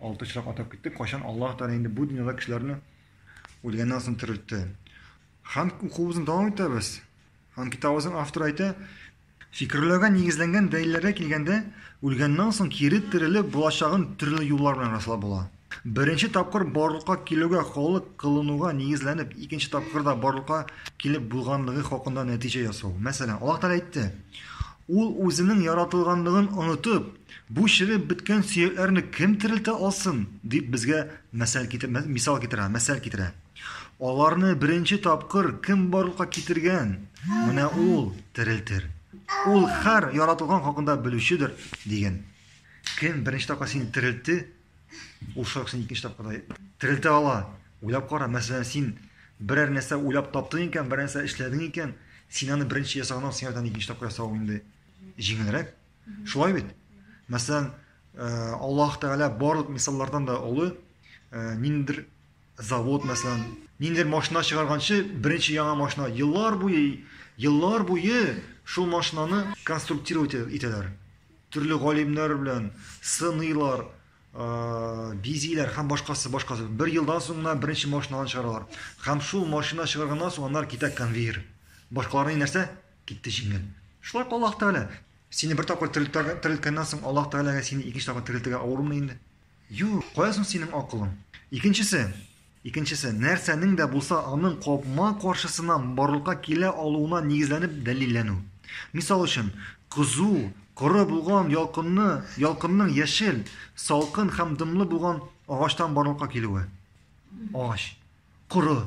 Алты очрак атап киттек, кайчан Аллаһ Тәгалә инде бу дөньяда кешеләрне үлгәннән соң терелтте. Һәм укуыбызны дәвам итәбез. Һәм китабыбызның авторы әйтә, фикерләүгә нигезләнгән дәлилләргә килгәндә, үлгәннән соң кире терелеп булачагын төрле юллар белән раслап була. Беренче тапкыр барлыкка килүгә халык кылынуга нигезләнеп, икенче тапкыр да барлыкка килеп булганлыгы хакында нәтиҗә ясау. Мәсәлән, Аллаһ Тәгалә әйтте, Ул үзенең яратылганлыгын онытып, Бу чыгып беткән сөякләрне кем терелтә алсын? дип безгә мәсәл китер, мисал китерә, мәсәл китерә. Аларны беренче тапкыр кем барлыкка китергән? Менә ул терелтер. Ул хәр яратылган хакында белүчедер, дигән. Кем беренче тапкыр сине терелтте? Ул шулай син икенче тапкырда терелтә ала. Уйлап кара, мәсәлән, син берәр нәрсә уйлап таптың икән, берәр нәрсә эшләдең икән, син аны беренче ясаганнан соң икенче тапкыр ясау инде җиңелрәк. Шулай бит? Мәсәлән, э, Аллаһ Тәгалә барлык мисаллардан да олы, э, ниндидер завод, мәсәлән, ниндидер машина чыгарганчы, беренче яңа машина, еллар буе, еллар буе шул машинаны конструктировать итәләр. Төрле галимнәр белән сыныйлар, э, бизиләр һәм башкасы, башкасы. Бер елдан соң гына беренче машинаны чыгаралар. Һәм шул машина чыгарганнан соң аннары китә конвейер. Башкаларны нәрсә? Китте җиңел. Шулай Аллаһ Тәгалә. Сине бер тапкыр терелтәгә, терелткәннән соң Аллаһ Тәгаләгә сине икенче тапкыр терелтергә авырмы инде? Юк, кая соң синең акылың? Икенчесе, икенчесе, нәрсәнең дә булса аның капма каршысына барлыкка килә алуына нигезләнеп дәлилләнү. Мисал өчен, кызу, коры булган ялкынны, ялкынның яшел, салкын һәм дымлы булган агачтан барлыкка килүе. Агач. Коры.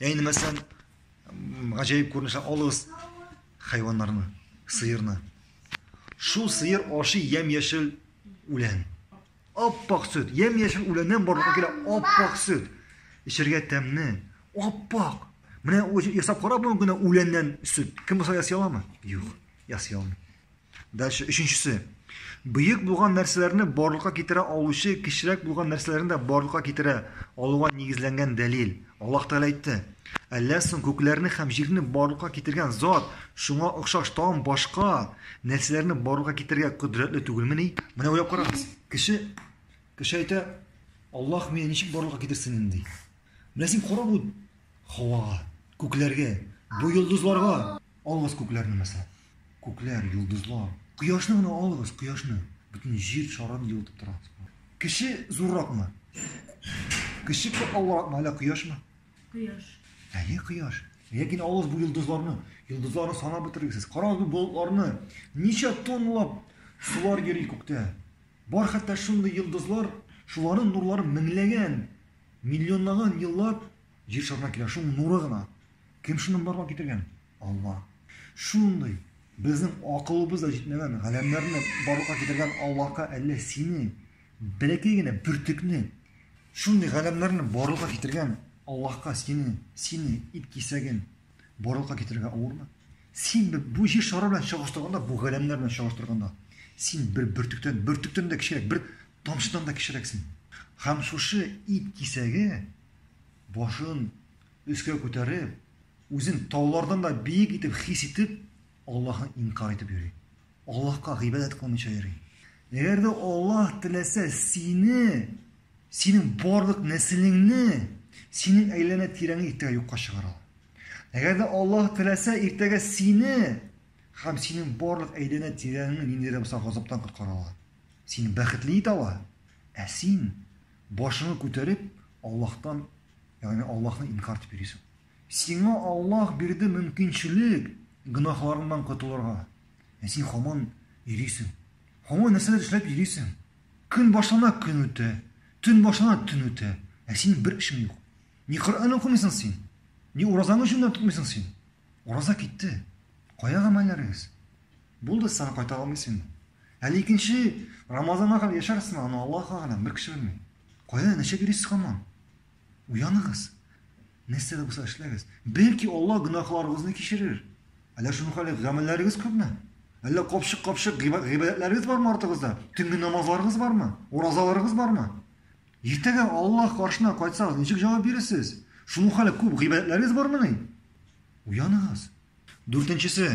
Әйне мәсәлән, гаҗәеп күренешә алыгыз хайваннарны, сыерны. Шул сыер аши ямь-яшел үлән. Аппак сөт, ямь-яшел үләннән барлыкка килә аппак сөт. Эчергә тәмне, аппак. Менә ясап карап бүгенге генә үләннән сөт. Кем булса ясый аламы? Юк, ясый алмый. Дальше өченчесе. Бөек булган нәрсәләрне барлыкка китерә алучы кечерәк булган нәрсәләрне дә барлыкка китерә алуга нигезләнгән дәлил. Аллаһ Тәгалә әйтте, Әллә соң күкләрне һәм җирне барлыкка китергән Зат шуңа охшаш тагын башка нәрсәләрне барлыкка китерергә кодрәтле түгелмени? Менә уйлап карагыз, кеше кеше әйтә, Аллаһ мине ничек барлыкка китерсен инде? Менә син кара бу һавага, күкләргә, бу йолдызларга, Алыгыз күкләрне, мәсәлән. Күкләр, йолдызлар. Кояшны гына алыгыз, кояшны. Бөтен җир шарын җылытып тора. Кеше зурракмы? Кеше күп авыракмы, әллә кояшмы? Кояш. Әйе, кояш. Ләкин алыгыз бу йолдызларны. Йолдызларны санап бетерегез. Карагыз бу болытларны. Ничә тоннлап сулар йөри күктә. Бар хәтта шундый йолдызлар, шуларның нурлары меңләгән, миллионлаган еллар Җир шарына килә шул нуры гына. Кем шуны барлыкка китергән? Алла. Шундый безнең акылыбыз да җитмәгән галәмнәрне барлыкка китергән Аллаһка әллә сине бәләкәй генә бөртекне шундый галәмнәрне барлыкка китергән Аллаһка сине, сине ит кисәген барлыкка китергә авырмы? Син бу җир шары белән чагыштырганда, бу галәмнәр белән чагыштырганда, син бер бөртектән, бөртектән дә кечерәк, бер тамчыдан да кечерәксең. Һәм шушы ит кисәге башын өскә күтәреп, үзен таулардан да биек итеп хис итеп, Аллаһы инкар итеп йөри. Аллаһка гыйбадәт кылмыйча йөри. Әгәр дә Аллаһ теләсә, сине, синең барлык нәселеңне, синең әйләнә тирәңне иртәгә юкка чыгара. Әгәр дә Аллаһ теләсә, иртәгә сине һәм синең барлык әйләнә тирәңне ниндидер булса газаптан коткара ала. Сине бәхетле итә ала. Ә син Башыңны күтәреп, Аллаһтан, ягъни Аллаһны инкар итеп йөрисең. Сиңа Аллаһ бирде мөмкинчелек гөнаһларыңнан котылырга. Ә син хаман йөрисең. Хаман нәрсәләр эшләп йөрисең? Көн башлана, көн үтә. Төн башлана, төн үтә. Ә синең бер эшең юк. Ни Коръән укымыйсың син? Ни уразаңны җүннән тотмыйсың син? Ураза китте. Кая гамәлләрегез? Булды, сиңа кайта алмыйм син. Әле икенче Рамазанга кадәр яшәрсең, аны Аллаһ галәм, бер кеше белми. Кайда нәшә бирисез хаман? Уяныгыз. Нәрсә дә булса эшләгез. Бәлки Аллаһ гөнаһларыгызны кичерер. Әллә шуның хәле гамәлләрегез күпме? Әллә капшык-капшык гыйбадәтләрегез бармы артыгызда? Төнге намазларыгыз бармы? Уразаларыгыз бармы? Иртәгә Аллаһ каршына кайтсагыз, ничек җавап бирерсез? Шуның хәле күп гыйбадәтләрегез бармыни? Уяныгыз. Дүртенчесе,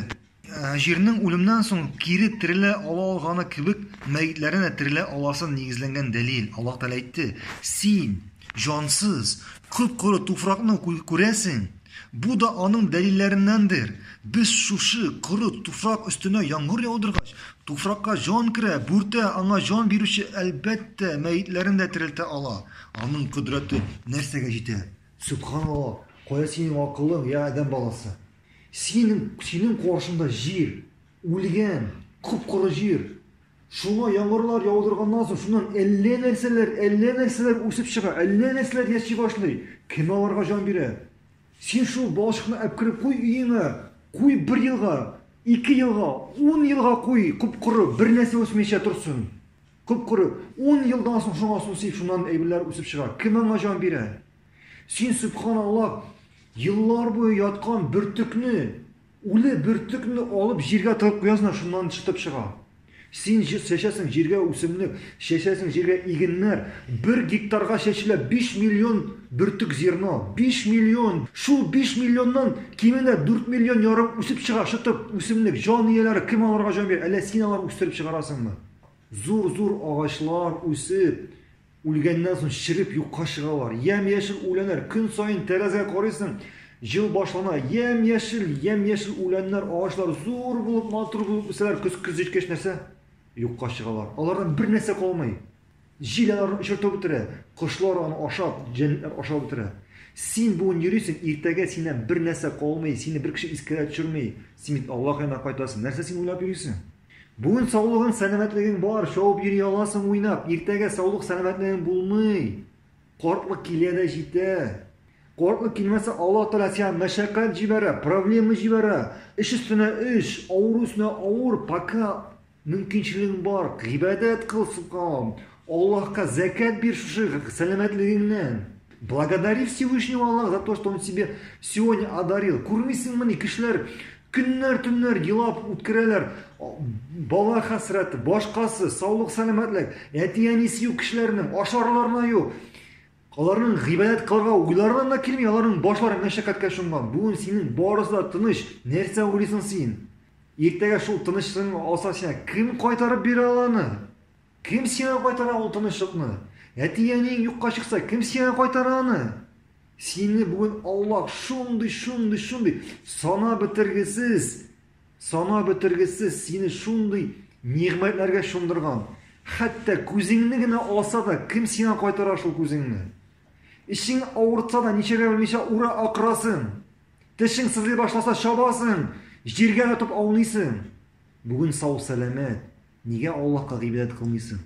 җирнең үлемнән соң кире терелә ала алганы кебек, мәетләрнең дә терелә аласын нигезләнгән дәлил. Аллаһ Тәгалә әйтте, Син, җансыз, коп-коры туфракны күрәсең. Бу да аның дәлилләреннәндер. Без шушы коры туфрак өстенә яңгыр яудыргач, туфракка җан керә, бүртә, аңа җан бирүче, әлбәттә, мәетләрне дә терелтә ала. Аның кодрәте нәрсәгә җитә? Сөбханалла, кая синең акылың, я адәм баласы! Синең, синең каршыңда җир, үлгән, коп-коры җир. Шуңа яңгырлар яудырганнан соң, шуннан әллә нәрсәләр, әллә нәрсәләр үсеп чыга, әллә нәрсәләр яши башлый. Кем аларга җан бирә? Син шул балчыкны әпкереп куй өеңә, куй бер елга, ике елга, ун елга куй, коп-коры, бер нәрсә үсмичә торсын. Коп-коры. Ун елдан соң шуңа су сип, шуннан әйберләр үсеп чыга. Кем аңа җан бирә? Син, сөбханалла, еллар буе яткан бөртекне, үле бөртекне алып җиргә тыгып куясың, шуннан чытып чыга. Син чәчәсең җиргә үсемлек, чәчәсең җиргә игеннәр. Бер гектарга чәчелә 5 миллион бөртек зерно. 5 миллион! Шул 5 миллионнан кимендә 4 миллион ярым үсеп чыга, чытып, үсемлек. Җан ияләре, кем аларга җан бирә? Әллә син алар үстереп чыгарасыңмы? Зур-зур агачлар үсеп, үлгәннән соң череп юкка чыгалар. Ямь-яшел үләннәр, көн саен тәрәзәгә карыйсың, җыл башлана, ямь-яшел, ямь-яшел үләннәр, агачлар зур булып, матур булып үсәләр, көз көз җиткәч нәрсә? Юкка чыгалар. Алардан бер нәрсә калмый. Җил аларны очыртып бетерә, кошлар аны ашап, җәнлекләр ашап бетерә. Син бүген йөрисең, иртәгә синнән бер нәрсә калмый, сине бер кеше искә дә төшерми, син бит Аллакаена кайтасың. Нәрсә син уйлап йөрисең? Бүген саулыгың, сәламәтлегең бар, шауып йөри аласың уйнап. Иртәгә саулык, сәламәтлегең булмый. Картлык килә дә җитә. Картлык килмәсә, Аллаһ Тәгалә сиңа мәшәкать җибәрә, проблема җибәрә. Эш өстенә эш, авыру өстенә авыр, пока мөмкинчелегең бар, гыйбадәт кыл, субханаллаһ. Аллаһка зәкят бир шушы сәламәтлегеңнән. Благодари Всевышнего Аллаһ то, что он тебе сегодня одарил. Күрмисеңмени, кешеләр көннәр-төннәр елап үткәрәләр. Бала хәсрәте, башкасы, саулык, сәламәтлек, әти-әнисе юк кешеләрнең, ашарларына юк. Аларның гыйбадәт кылырга уйларына да килми, аларның башлары мәшәкатькә чумган. Бүген синең барысы да тыныч. Нәрсә уйлыйсың син? Иртәгә шул тынычлыгың алса сиңа кем кайтарып бирә аланы? Кем сиңа кайтара ул тынычлыкны? Әти-әниең юкка чыкса, кем сиңа кайтара аны? Сине бүген Аллаһ шундый, шундый, шундый, санап бетергесез, санап бетергесез сине шундый нигъмәтләргә чумдырган. Хәтта күзеңне генә алса да, кем сиңа кайтара шул күзеңне? Ишең авыртса да, ничәгә белмичә ура акырасың. Тешең сызлый башласа, чабасың, җиргә ятып аунисың. Бүген сау-сәламәт, Нигә Аллаһка гыйбадәт кылмыйсың?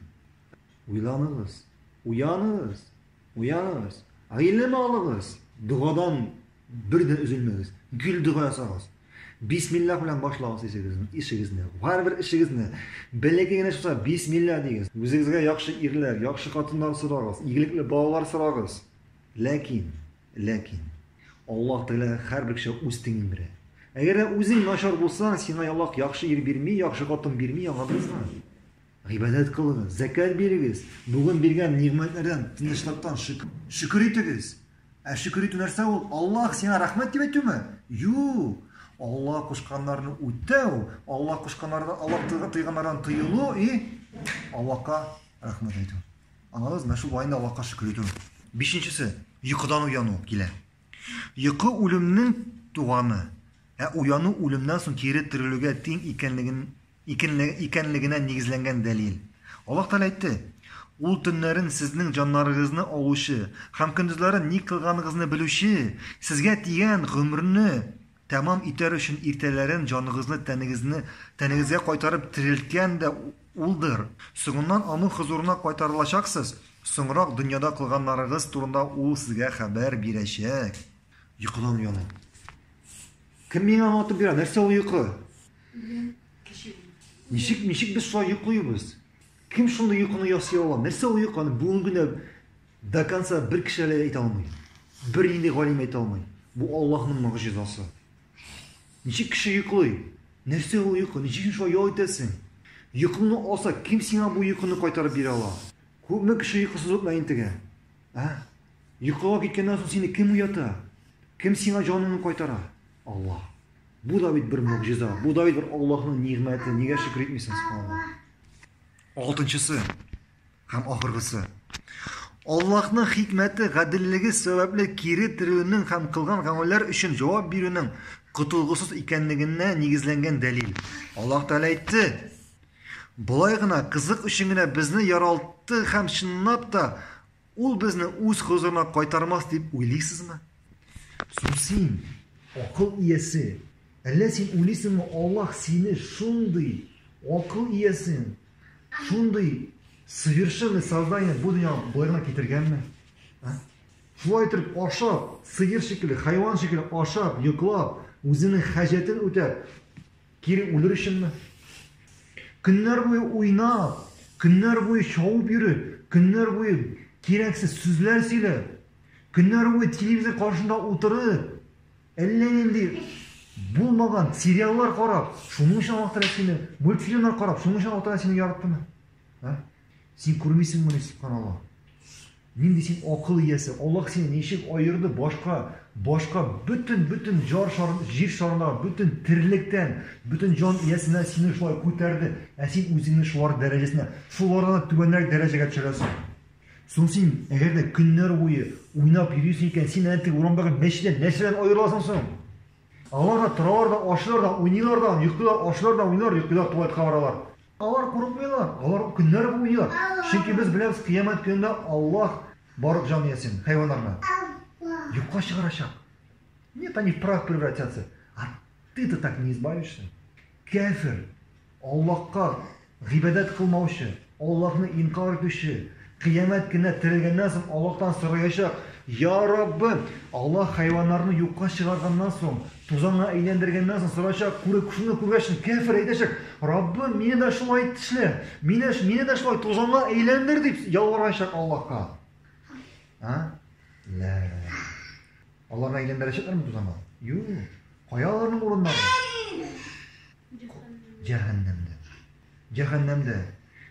Уйланыгыз! Уяныгыз! Уяныгыз! Гыйлем алыгыз! Догадан бер дә өзелмәгез. Гел дога ясагыз. Бисмиллах белән башлагыз ишегезне, ишегезне. Һәрбер ишегезне бәләкәй генә чыкса, бисмиллах дигез. Үзегезгә яхшы ирләр, яхшы хатыннар сорагыз, игелекле балалар сорагыз. Ләкин Ләкин Аллаһ Тәгалә һәрбер кешегә үз тиңен бирә. Әгәр дә үзең начар булсаң, сиңа Аллаһ яхшы ир бирми, яхшы хатын бирми, аңладыңызмы? Гыйбадәт кылыгыз, зәкәт бирегез, бүген биргән нигъмәтләрдән, тынычлыктан шөкер итегез. Ә шөкер итү нәрсә ул? Аллаһ сиңа рәхмәт дип әйтүме? Юк. Аллаһ кушканнарны үтәү, Аллаһ кушканнардан, Аллаһ тыйганнардан тыелу и Аллаһка рәхмәт әйтү. Аңлагыз, менә шул война Аллаһка шөкер итү. Бишенчесе, йокыдан уяну килә. Йокы үлемнең туганы, ә уяну үлемнән соң кире терелүгә тиң икәнлеген икәнлегенә нигезләнгән дәлил. Аллаһ Тәгалә әйтте, Ул төннәрен сезнең җаннарыгызны алучы һәм көндезләрен ни кылганыгызны белүче, сезгә тигән гомерне Тәмам итәр өчен иртәләрен җаныгызны тәнегезне тәнегезгә кайтарып терелткән дә Улдыр. Соңыннан Аның хозурына кайтарылачаксыз, соңрак дөньяда кылганнарыгыз турында Ул сезгә хәбәр бирәчәк. Йокыдан оялыйм. Кем миңа аңлатып бирә, нәрсә ул йокы? Үлем, кеше үлү. Ничек, ничек без шулай йоклыйбыз? Кем шундый йокыны ясый ала? Нәрсә ул йокы? Аны бүген генә До конца бер кеше әле әйтә алмый. Бернинди галим әйтә алмый. Бу Аллаһның могҗизасы. Ничек кеше йоклый? Нәрсә ул йокы? Ничек син шулай ял итәсең? Йокыңны алса, кем сиңа бу йокыны кайтарып бирә ала? Күпме кеше йокысыз утына интегә? Ә? Йокыга киткәннән соң сине кем уята? Кем сиңа җаныңны кайтара? Аллаһ. Бу да бит бер могҗиза. Бу да бит бер Аллаһның нигъмәте. Нигә шөкер итмисең, субханаллаһ? Алтынчысы. Һәм ахыргысы. Аллаһның хикмәте, гаделлеге сәбәпле кире терелүнең һәм кылган гамәлләр өчен җавап бирүнең котылгысыз икәнлегенә нигезләнгән дәлил. Аллаһ Тәгалә әйтте, Болай гына, кызык өчен генә безне яралт ты һәм чынлап та Ул безне үз хозурына кайтармас дип уйлыйсызмы? Сусин, акыл иясе, әллә син уйлыйсыңмы, Аллаһ сине шундый акыл иясен, шундый совершенный создание бу дөньяга боларга китергәнме? А? Шулай итеп ашап, сыер шикелле, хайван шикелле ашап, йоклап, үзенең хаҗәтен үтәп, Кире үлер өченме? Көннәр буе уйнап, көннәр буе чавып йөри, көннәр буе кирәксез сүзләр сөйли, көннәр буе телевизор каршында утырып, әллә нинди булмаган сериаллар карап, шуның өчен аллаһ тәгалә сине мультфильмнар карап, шуның өчен аллаһ тәгалә сине яраттымы? Син күрмисеңмени, субханаллаһ? Нинди син акыл иясе, Аллаһ сине ничек аерды башка, башка бөтен, бөтен җар шар, җир шарына, бөтен терелектән, бөтен җан иясенә сине шулай күтәрде, ә син үзеңне шулар дәрәҗәсенә, шулардан да түбәнрәк дәрәҗәгә төшерәсең. Соң син, әгәр дә көннәр буе уйнап йөрисең икән, син әнә теге урамдагы мәчеттән нәрсә белән аерыласың соң? Алар да торалар да, ашыйлар да, уйныйлар да, йоклыйлар, ашыйлар да, уйныйлар, йоклыйлар, туалетка баралар. Алар курыкмыйлар, алар көннәр буе, чөнки без беләбез, кыямәт көнендә Аллаһ барлык җан иясен, хайваннарны юкка чыгарачак. Нет, они в прах превратятся. А ты-то так не избавишься. Кәфир, Аллаһка гыйбадәт кылмаучы, Аллаһны инкар итүче, Кыямәт көненә терелгәннән соң Аллаһтан сораячак, Йа Раббы! Аллаһ хайваннарны юкка чыгарганнан соң, тузанга әйләндергәннән соң сорачак, күрү шуны күргәчен, кяфер әйтәчәк, Раббым, мине дә шулай ит эшлә, мине, мине дә шулай тузанга әйләндер дип ялварачак Аллаһка. А? Лә. Аллаһны әйләндерәчәкләрме тузанга? Юк. Кая аларның урыннары? Җәһәннәмдә. Җәһәннәмдә.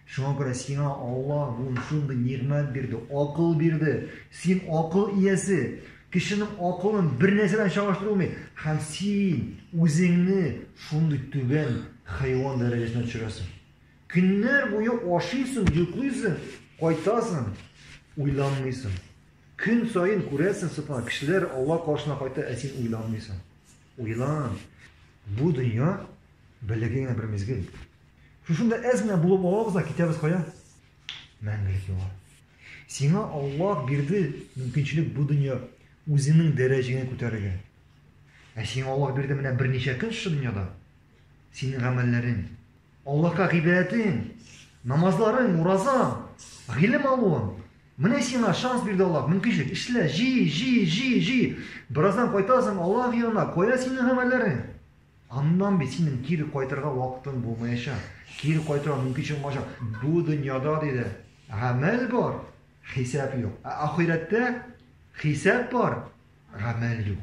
Шуңа күрә сиңа Аллаһ бүген шундый нигъмәт бирде, акыл бирде. Син акыл иясе. Кешенең акылын бернәрсә белән чагыштырып булмый. Һәм син үзеңне шундый түбән хайван дәрәҗәсенә төшерәсең. Көннәр буе ашыйсың, йоклыйсың, кайтасың, уйланмыйсың. Көн саен күрәсең, субханалла, кешеләр Аллаһ каршына кайта, ә син уйланмыйсың. Уйлан, бу дөнья берлеге генә бер мизгел. Шушында әз генә булып алабыз да китәбез кая? Мәңгелек юлга. Сиңа Аллаһ бирде мөмкинчелек бу дөнья үзеңнең дәрәҗәңә күтәрергә. Ә сиңа Аллаһ бирде менә берничә көн шушы дөньяда. Синең гамәлләрең, Аллаһка гыйбадәтең, намазларың, уразаң, гыйлем алуың. Менә сиңа шанс бирде Аллаһ, мөмкинчелек. Эшлә, җи, җи, җи, җи. Бераздан кайтасың Аллаһ янына. Кая синең гамәлләрең? Аннан бит синең кире кайтырга вакытың булмаячак. Кире кайтырга мөмкинчелек булмаячак. Бу дөньяда диде, гамәл бар, хисап юк. Ә ахирәттә хисап бар, гамәл юк.